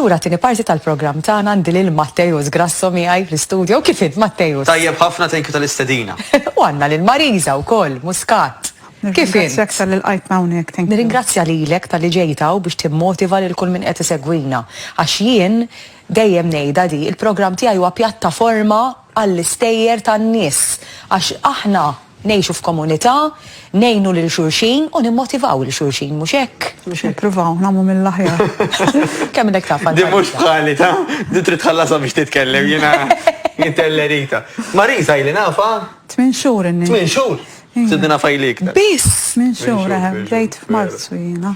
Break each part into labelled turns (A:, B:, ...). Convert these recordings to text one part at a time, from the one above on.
A: Lura tini parti tal-programm tagħna għandi lil Mattejus Grasso miegħi fl-istudio. Kif int Mattejus? Tajjeb ħafna thank you
B: tal-istedina. U għandna lil
A: Mariża wkoll Muscat. Kif int? Nirringrazzjak tal qajt
C: hawnhekk. Nirringrazzja lilek tal-li
A: ġejtaw biex timmotiva lil kull min qed isegwina. Għax jien Dejjem ngħidha di, il-programm tiegħi huwa pjattaforma għall-istejjer tan-nies għax aħna ngħixu f'komunità, ngħinu lil xulxin u nimmotivaw lil xulxin, mhux hekk? Mhux hekk. Nippruvaw nagħmlu
C: mill-aħjar. Kemm minnhekk
A: taf għandha. Din mhux bħali ta',
B: din trid tħallasha biex titkellem, jiena intellerita. Marisa ili nafha? Tmien xhur inni.
C: Tmien xhur?
B: Sidni nafha ili iktar. Biss tmien xhur,
A: eħe,
C: bdejt f'Marzu jiena.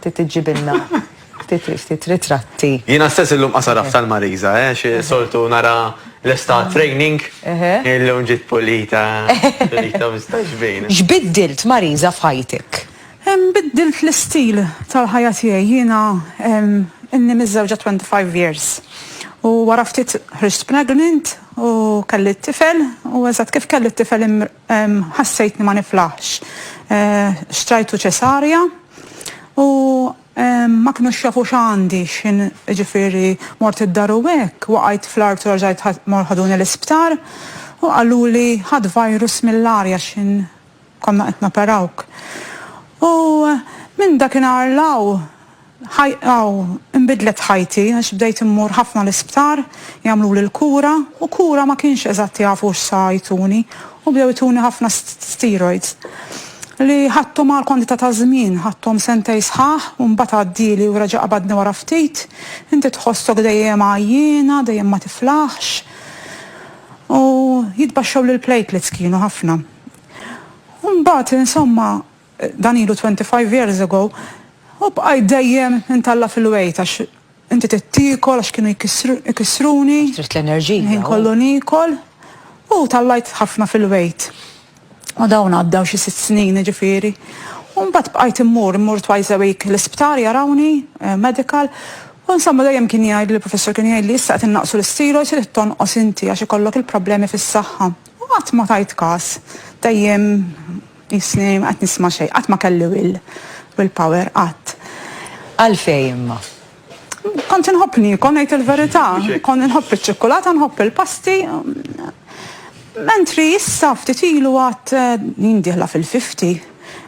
A: Ftit iġġibilna ftit ftit ritratti. Jiena stess illum
B: qasaraf tal-Marisa, eh, xi soltu nara l-estate training, illum ġiet pulita, pulita mistax bejn. X'biddilt Marisa
A: f'ħajtek? Biddilt
C: l-istil tal-ħajja tiegħi. Jiena ilni miżżewġa 25 years u wara ftit ħriġt pregnant u kelli t-tifel u eżatt kif kelli t-tifel Ħassejtni ma niflaħx. Xtrajtu ċesarja u ma kinux jafu x'għandi, jiġifieri mort id-dar u hekk, waqajt fl-art u raġajt mor ħaduni l-isptar u qaluli ħadt virus mill-arja x'in konna qed noperawk. U minn dakinhar 'l hawn. Aw, inbidlet ħajti għax bdejt immur ħafna l-isptar, jagħmluli l-kura, u kura ma kienx eżatt jafu x'sa jtuni u bdew ituni ħafna steroids li ħadthom għal kwantità ta' żmien, ħadthom sentejn sħaħ u mbagħad għaddieli u reġa' qabadni wara ftit. Inti tħossok dejjem għajjiena, dejjem ma tiflaħx. U jitbaxxewli l-platelets kienu ħafna. U mbagħad insomma Dan ilu twenty five years ago u bqajt dejjem intalla' fil-wegħid għax inti trid tiekol għax kienu jkissruni. Għax trid l-enerġija.
A: Il-ħin kollu niekol
C: u tallajt ħafna fil-wegħid. U dawn għaddew xi sitt snin jiġifieri. U mbagħad bqajt immur, immur twice a week l-isptar jarawni, medical, u insomma dejjem kien jgħidli l-professur kien jgħidli issa qed innaqqsu l-isteroids irid tonqos inti għax ikollok il-problemi fis-saħħa. U qatt ma tajt każ. Dejjem Jissni, ma qed nisma' xejn. Qatt ma kelli will, will power, qatt. Għalfejn
A: imma? Kont
C: inħobb niekol, ngħid il-verità. Kont inħobb iċ-ċikkulata, nħobb il-pasti. Mentri issa ftit ilu għad, jien dieħla fil-fifty,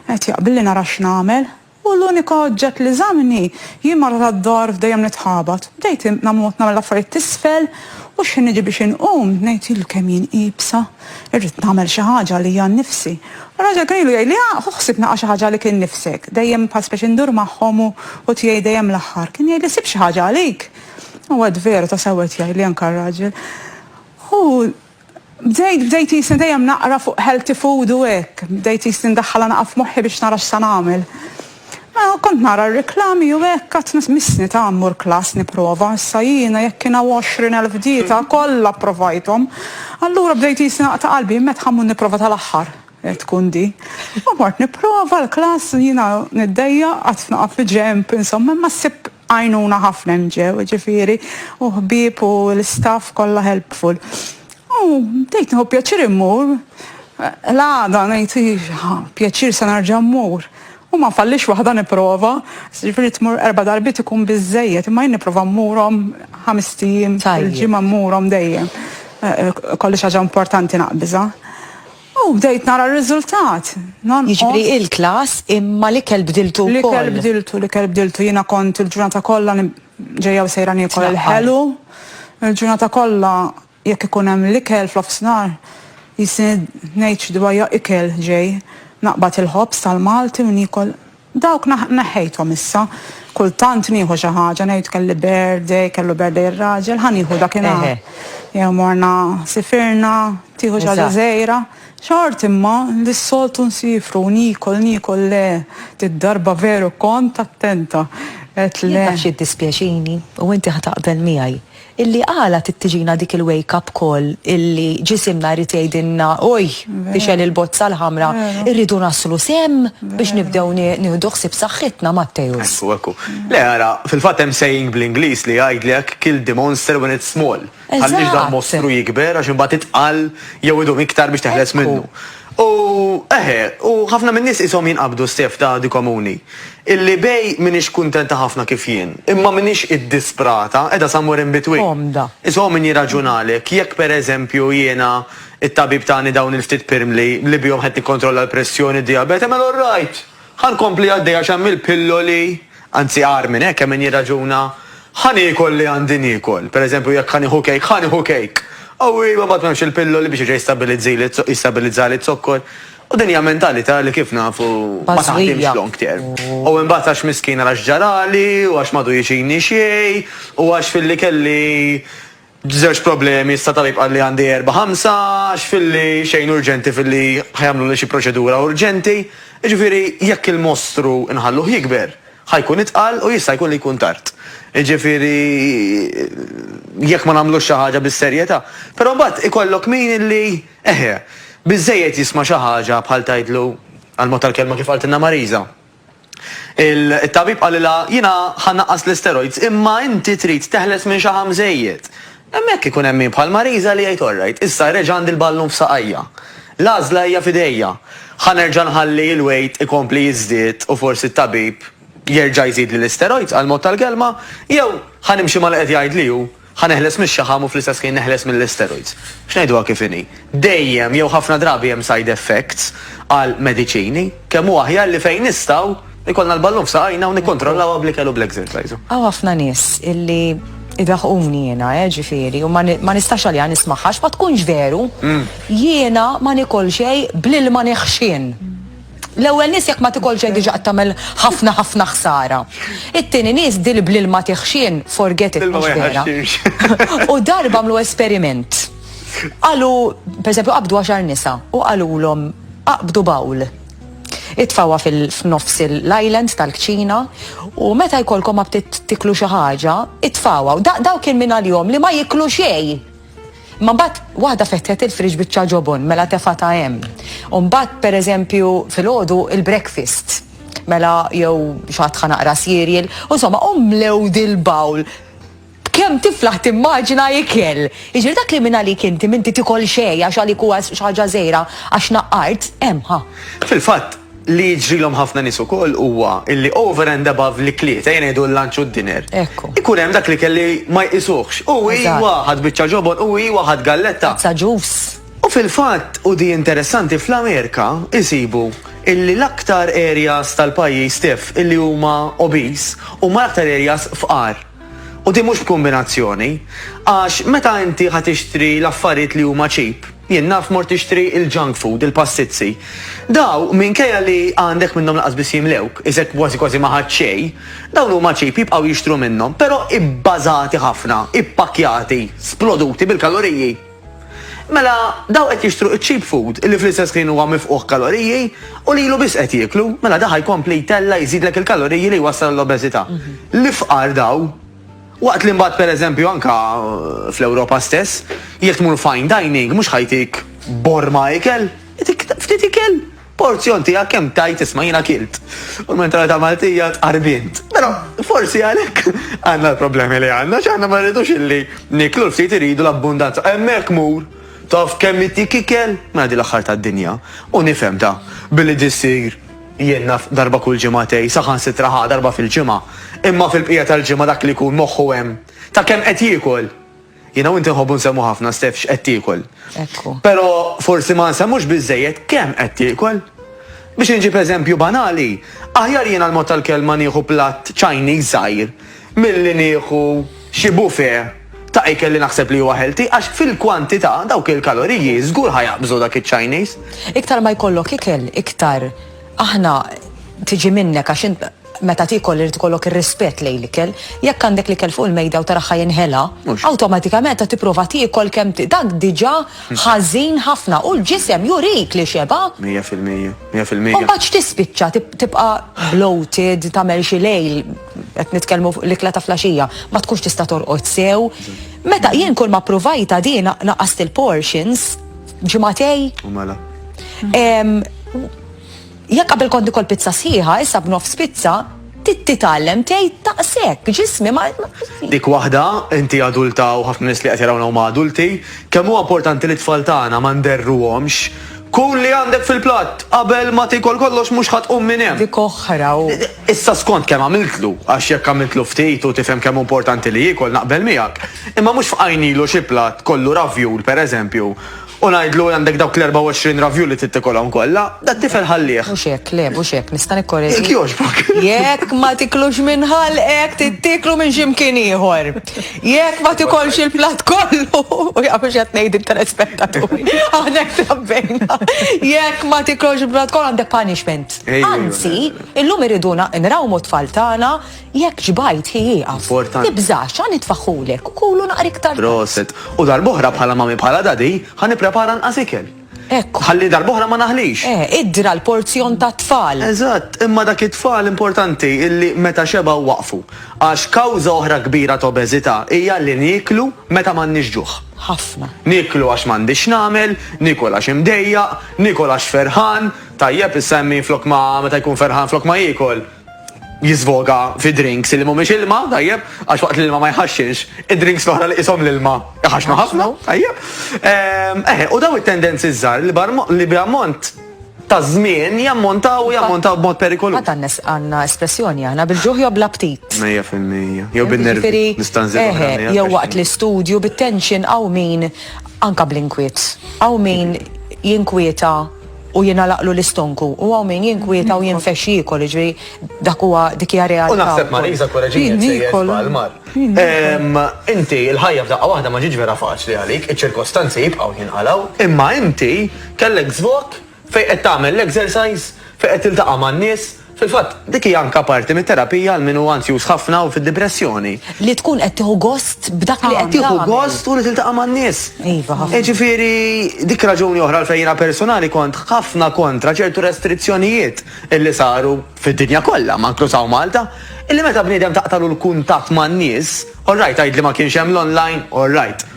C: qed jaqbilli nara x'nagħmel. U l-unika oġġett li żammni, jien mara tad-dar f'dejjem nitħabat. Bdejt namut nagħmel affarijiet t'isfel u x'ħin niġi biex inqum, ngħid ilu kemm jien iebsa, irrid nagħmel xi ħaġa għalija nnifsi. Raġel kien ilu jgħidli, ah, ħu ħsieb nagħqa' xi ħaġa għalik innifsek. Dejjem bħal speċi ndur magħhom u hu tiegħi dejjem l-aħħar. Kien jgħidli sib xi ħaġa għalik. U għad veru tassew qed jgħidli anke r-raġel. Hu. Bdejt, bdejt qisni dejjem naqra fuq healthy food u hekk. Bdejt qisni ndaħħalha naqra f'moħħi biex nara x'sa nagħmel. Mela kont nara r-riklami u hekk għadt missni ta' mmur klass nipprova. Issa jiena jekk kien hawn għoxrin elf dieta, kollha pprovajthom. Allura bdejt qisni naqta' qalbi, imma ħammur nipprova tal-aħħar tkun di. U mort nipprova l-klass, jiena niddejjaq, għadt noqgħod bil-ġenb, insomma, imma ssib. Għajnuna ħafna hemm ġew, ġifieri, u ħbieb u l-istaff kollha helpful. U bdejt nieħu pjaċir immur, l-għada ngħid iva, pjaċir se nerġa' mmur. U ma nfallix waħda nipprova, ġifieri tmur erba' darbiet ikun biżżejjed, imma jien nipprova mmurhom ħamest ijiem fil-ġimgħa mmurhom dejjem. Ikolli xi ħaġa importanti naqbiżha. U bdejt nara r-riżultat. Nonqos. Jiġifieri
A: il-klass imma l-ikel bdiltu wkoll. L-ikel bdiltu, l-ikel bdiltu.
C: Jiena kont il-ġurnata kollha ġejja u sejra niekol il-ħelu. Il-ġurnata kollha jekk ikun hemm l-ikel f'nofsinhar jisni ngħid xi dwajja ikel ġej. Naqbad il-ħobż tal-Malti u niekol Dawk neħħejthom issa. Kultant nieħu xi ħaġa, ngħid kelli birthday, kellu birthday ir-raġel, ħa nieħu dakinhar. Jew morna sifirna, tieħu xi ħaġa żgħira. Xort imma li s-soltu nsifru, niekol, niekol le, did-darba veru kont
A: attenta. Qed le. Jien naf x'jiddispjaċini, u inti ħa taqbel
C: miegħi.
A: Illi għala trid tiġina dik il-wake up call illi ġisimna jrid jgħidilna, oj, fixel il-bozza l-ħamra, irridu naslu sehem biex nibdew nieħdu ħsieb saħħitna, Matteus. Ekku, ekku. Le,
B: ara, fil-fatt hemm saying bl-Ingliż li jgħidlek kill the monster when it's small. Tħallix dal-mostru jikber għax imbagħad itqal jew idum iktar biex teħles minnu. U, eħe, u ħafna min-nies qishom jinqabdu s-sejf ta' għadi komuni, illi bej m'iniex kuntenta ħafna kif jien, imma m'iniex iddisprata, qiegħda somewhere in between. Komda. Issa hu min
A: jirraġunalek,
B: jekk per eżempju jiena t-tabib tani dawn il-ftit pirmli li bihom qed nikkontrolla l-pressjoni, d-dijabete, mela all right! Ħa nkompli għaddejja għax hemm il-pilloli. Anzi agħar minn hekk, hemm min jirraġuna, Ħa niekol li għandi niekol. Per eżempju, jekk ħa nieħu kejk, ħa nieħu kejk! Qawwi, iva mbagħad m'hemmx il-pilloli biex jerġa' jistabilizzili, jistabilizzali z-zokkor. U din hija mentalità li kif nafu ma taħdimx long term. U imbagħad għax miskina għax ġarali u għax m'għadu jiġini xejn u għax filli kelli Żewġ problemi statali bqal li għandi erbgħa ħamsa għax filli xejn urġenti filli ħa jagħmluli xi proċedura urġenti, jiġifieri jekk il-mostru nħalluh jikber ħa jkun itqal u jista' jkun li jkun tard. Jiġifieri jekk ma nagħmlux xi ħaġa bis-serjetà. Però mbagħad ikollok min illi eħe, biżżejjed jisma' xi ħaġa bħal tgħidlu, għall-mod tal-kelma kif qaltilna Marisa, It-tabib qalilha, Jiena ħa nnaqqas l-isteroids, imma inti trid teħles minn xi ħam żejjed. Hemmhekk ikun hemm min bħal Marisa li jgħid, Orrajt, issa reġa' għandi l-ballun f'saqajja. L-għażla hija f'idejja. Ħa nerġa' nħalli l-wejt ikompli jiżdied u forsi t-tabib jerġa' jżidli l-isteroids għall-mod tal-kelma, jew ħa nimxi ma' li qed jgħidli hu. Ħa neħles mix-xaħam u fl-istess ħin neħles mill-isteroids. X'ngħiduha kif inhi, dejjem jew ħafna drabi hemm side effects għal mediċini. Kemm hu aħjar li fejn nistgħu, ikollna l-ballun f'saqajna u nikkontrollawha bl-ikel u bl-exercise. Hawn ħafna nies
A: illi jdaħquni jiena, eh, ġifieri, u ma nistax għaliha nismagħha għax ma tkunx veru. Jiena ma nikol xejn bl-ilma neħxien. L-ewwel nies jekk ma tikolx xejn diġà qed tagħmel ħafna ħafna ħsara. It-tieni nies dil bl-ilma tiħxien, forget it mhux vera. U darba għamlu esperiment. Qalu, pereżempju qabdu għaxar nisa u qalulhom aqbdu bawl. Itfawha f'nofs l-island tal-kċina u meta jkollkom aptit tiklu xi ħaġa, itfawha. U dak kien minn għalihom li ma jiklu xejn. Imma mbagħad waħda fetħet il-fridge biċċa ġobon, mela tefgħatha hemm. U mbagħad pereżempju filgħodu il-breakfast mela jew xatħa naqra sirjel, u insomma u mlew dil-bawl kem tiflaħ timmaġina ikel. Iġir dak li minna li kinti minti tikol xej, għax għalik huwa xaġa zejra, għax naqqart, emħa. Fil-fatt,
B: Li jiġrilhom ħafna nies ukoll huwa illi over and above l-ikliet, ejja ngħidu l-lunch u d-dinner, ikun hemm dak l-ikel li ma jqisuhx. U iwa, ħadt biċċa ġobon, u iwa, ħadt galletta. Tazza ġus.
A: U fil-fatt,
B: u di interessanti, fl-Amerika insibu illi l-aktar areas tal-pajjiż tiegħf illi huma obese huma l-aktar areas fqar. U din mhux b'kumbinazzjoni. Għax meta inti ħa tixtri l-affarijiet li huma cheap, jien naf mort tixtri l-junk food, il-passizzi. Daw, minkejja li għandek minnhom lanqas biss jimlewk, iżjed kważi kważi ma ħadt xejn, dawn huma cheap, jibqgħu jixtru minnhom, però ibbażati ħafna, ippakkjati, sploduti bil-kaloriji. Mela, dawk qed jixtru iċ-cheap food illi fl-istess ħin huwa mifqugħ kaloriji u lilu biss qed jieklu, mela da' ħa jkompli jtella' jżidlek il-kaloriji li jwassal għall-obeżità. L-ifqar daw. Waqt li mbagħad pereżempju anke fl-Ewropa stess, jekk tmur fine dining mhux ħa jtik borma ikel, itik ftit ikel. Porzjon tiegħek kemm tajt isma' jiena kilt. U l-mentalità Maltija tqarbint. Però forsi għalhekk għandna l-problemi li għandna, x'aħna ma rridux illi niklu l-ftit iridu l-abbundanza. Hemmhekk mur, taf kemm ittik ikel? Mela din l-aħħar tad-dinja. U nifhem da, billi di ssir jien naf darba kull ġimagħtej, saħansitra ħa darba fil-ġimgħa. Imma fil-bqija tal-ġimgħa dak li jkun moħħu hemm ta' kemm qed jiekol. Jiena u inti nħobbu nsemmu ħafna Steph x'qed tiekol. Ekku. Però forsi ma nsemmux biżejjed kemm qed tiekol. Biex inġib eżempju banali, aħjar jiena l-mod tal-kelma nieħu platt Chinese żgħir milli nieħu xi buffet ta' ikel li naħseb li huwa healthy għax fil-kwantità dawk il-kaloriji żgur ħajaqbżu dak iċ-Chinese. Iktar
A: ma jkollok ikel, iktar
B: aħna
A: tiġi minnek għax Meta tiekol irid ikollok ir-rispett lejn l-ikel. Jekk għandek l-ikel fuq il-mejda u tara ħa jinħela, awtomatikament
B: qed tipprova
A: tiekol kemm dak diġà ħażin ħafna u l-ġisem jurik li xeba'. Mija fil-mija, mija
B: fil-mija. U mbagħad
A: x'tispiċċa, tibqa' bloated, tagħmel xi lejl, qed nitkellmu fuq l-ikla ta' flaxija, ma tkunx tista' torqod sew. Meta jien kull ma ppruvajtha din naqqast il-portions, ġimagħtej. U mela. Jekk qabel kont nikol pizza sħiħa, issa b'nofs pizza, titgħallem tgħid daqshekk, ġismi ma. Dik waħda,
B: inti adulta u ħafna nies li qed jarawna huma adulti, kemm huwa importanti li t-tfal tagħna ma nderruhomx, Kull li għandek fil-platt, qabel ma tiekol kollox mhux ħa tqum minn hemm. Dik oħra u.
A: Issa skont kemm
B: għamiltlu, għax jekk għamiltlu ftit u tifhem kemm hu importanti li jiekol naqbel miegħek, imma mhux fqajnilu xi platt kollu ravjul, pereżempju, U ngħidlu għandek dawk l-24 ravju li trid tikolhom kollha, dat-tifel ħallih. Mhux hekk, le, mhux hekk,
A: nista' nikkoreġi. Jekk jogħġbok.
B: Jekk ma
A: tiklux minn ħalqek, tittieklu minn xi mkien ieħor. Jekk ma tikolx il-platt kollu, u jaf mhux qed ngħid it-telespettaturi, aħna trabbejna. Jekk ma tiklux il-platt kollu għandek punishment. Anzi, illum iriduna nrawmu t-tfal tagħna Jekk ġbajt hi ieqaf. Importanti. Tibżax, ħa
B: nitfaħħulek
A: u kulu naqra iktar tard. Proset. U darb'oħra
B: bħala mami bħala dadi, ħa nipprepara nqas ikel. Hekk. Ħalli
A: darb'oħra ma
B: naħlix. Eh, idra l-porzjon
A: tat-tfal. Eżatt, imma dak
B: it-tfal importanti illi meta xebgħu waqfu. Għax kawża oħra kbira ta' obeżità hija li nieklu meta m'għandniex ġuħ. Ħafna. Nieklu
A: għax m'għandix
B: x'nagħmel, niekol għax imdejjaq, niekol għax ferħan, tajjeb issa hemm min flok ma meta jkun ferħan flok ma jiekol. jiżvoga fi drinks li mhumiex ilma, tajjeb, għax waqt l-ilma ma jħaxxinx, id-drinks l-oħra li qishom l-ilma jħaxxnu ħafna, tajjeb. Ehm, eħe, u daw it-tendenzi żgħar li b'ammont ta' żmien jammontaw u jammontaw b'mod perikolu. Ma tannes għandna
A: espressjoni aħna bil-ġuħ jew bl-aptit. Mejja fil-mija. Jew
B: bin-nervi. Eħe, jew
A: waqt l-istudju bit-tension għaw min anka bl-inkwiet. Għaw min jinkwieta u jingħalaqlu l-istonku u hawn min jinkwieta u jinfexx jiekol, jiġifieri dak huwa dik hija realtà. U naħseb Marisa
B: koreġini jekk sejjer żball mar. Inti l-ħajja f'daqqa waħda ma ġietx vera faċli għalik, iċ-ċirkostanzi jibqgħu jinqalgħu, imma inti kellek żvok fejn qed tagħmel l-exercise, fejn qed tiltaqa' man-nies, Fil-fatt, dik hija anke parti mit-terapija għal min hu anzjuż ħafna u fid-dipressjoni. Li tkun qed tieħu
A: gost b'dak li qed tagħmel. Tieħu gost u li
B: tiltaqa' man-nies. Iva, ħafna. Jiġifieri
A: dik
B: raġuni oħra għalfejn jiena personali kont ħafna kontra ċertu restrizzjonijiet illi saru fid-dinja kollha, ma inkluż hawn Malta, illi meta bniedem taqtagħlu l-kuntatt man-nies, all right tgħidli ma kienx hemm l-online, all right,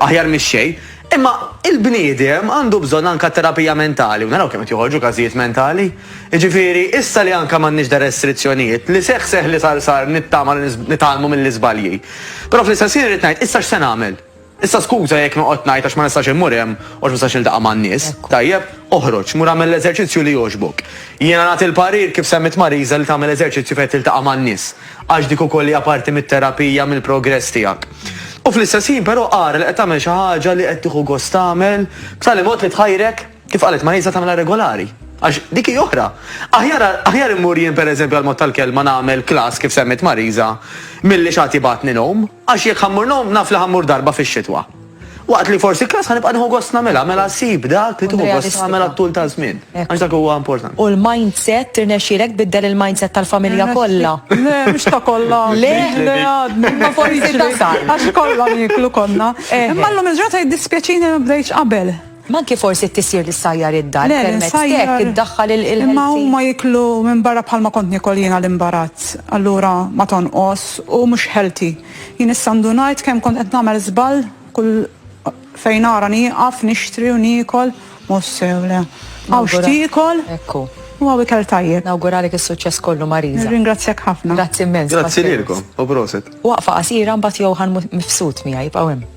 B: aħjar mix-xejn, Imma il-bniedem għandu bżonn anka terapija mentali u naraw kemm qed joħorġu każijiet mentali. Jiġifieri, issa li anka m'għandniex da restrizzjonijiet, li seħħ seħħ li sar sar nittama li nitgħallmu mill-iżbalji. Però fl-istess ħin irrid ngħid, issa x'se nagħmel? Issa skuża jekk noqgħod ngħid għax ma nistax immur hemm u għax ma nistax niltaqa' man-nies. Tajjeb, oħroġ, mur agħmel l-eżerċizzju li jogħġbok. Jiena nagħti l-parir kif semmiet Marisa li tagħmel eżerċizzju fejn tiltaqa' man-nies. għax dik ukoll hija parti mit-terapija, mill-progress tiegħek. U fl-istess ħin però ara li qed tagħmel xi ħaġa li qed tieħu gost tagħmel, b'tali mod li tħajrek, kif qalet Marisa, tagħmilha regolari. Għax dik hi oħra. Aħjar aħjar immur jien pereżempju għall-mod tal-kelma nagħmel klass kif semmiet Marisa, milli x'għad jibgħatni nowm. Għax jekk ħa mmur ngħum, naf li ħa mmur darba fix-xitwa. Waqt li forsi klass ħa nibqa' nieħu gost nagħmilha, mela sib dak li tieħu gost tagħmel għat-tul ta' żmien. Għax dak huwa importanti. U l-mindset,
A: tirnexxielek tbiddel il-mindset tal-familja kollha? Le, mhux ta'
C: kollha. Le? Le, għadni.
A: Imma
C: forsi tasal. Għax kollha nieklu konna. Imma llum il-ġurnata jiddispjaċini li ma bdejtx qabel. Ma anki forsi
A: t-tisjir li ssajjar id-dar permezz t'hekk iddaħħal il-healthy. Le, li nsajjar, imma huma jieklu
C: minn barra bħal ma kont niekol jien għal imbarazz, allura ma tonqos u mhux healthy. Jien issa ndunajt kemm kont qed nagħmel żball kull fejn ara nieqaf nixtri u niekol, mhux sew le. Hawn x'tiekol u hawn
A: ikel tajjeb.
C: Nawguralek is-suċċess
A: kollu Marisa. Nirringrazzjak ħafna. Grazzi
C: immens. Grazzi
A: lilkom u proset.
B: Waqfa
A: qasira mbagħad
B: Johan
A: mifsud miegħi
B: jibqgħu
A: hemm.